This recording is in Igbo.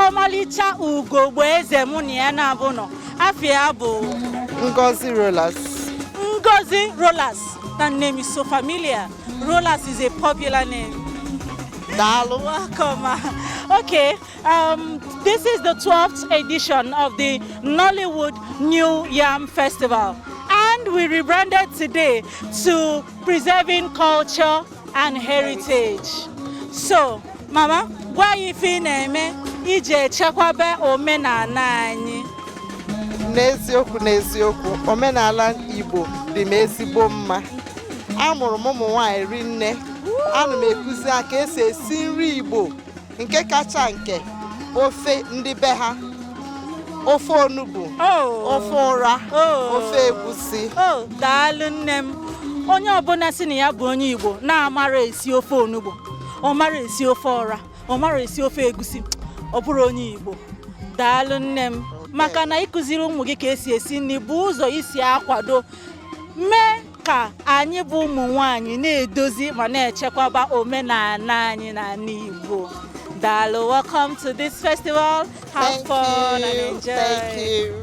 ọmalịcha ugogbe eze mụ na ya naabọ nọ afa ya bụ Ngozi Rollas. Ngozi Rollas. That name is so familiar. Rollas is a popular name. Daalụ. Welcome. Okay. Um, this is the 12th edition of the Nollywood New Yam Festival, and we rebranded today to Preserving Culture and Heritage. So, Mama, gwa anyị ife ị na-eme iji chekwaba omenala anyị. N'eziokwu n'eziokwu, omenala Igbo dị m ezigbo mma. Amụrụ m ụmụ nwaanyị rinne, ana m ekuzi ha ka esi esi nri Igbo nke kacha nke ofe ndị be ha ofe onugbu oh. ofe ụra oh. ofe egwusi oh, daalụ nne m onye ọbụla sị na ya bụ onye Igbo na-amarọ esi ofe onugbu ọ marọ esi ofe ụra ọ marọ esi ofe egusi ọ bụrọ onye Igbo daalụ nne m maka na ịkụziri ụmụ gị ka esi esi nri bụ ụzọ isi akwado mee ka anyị bụ ụmụ nwanyị na-edozi ma na-echekwaba omenala anyị na ala Igbo daalụ welcome to this festival have fun and enjoy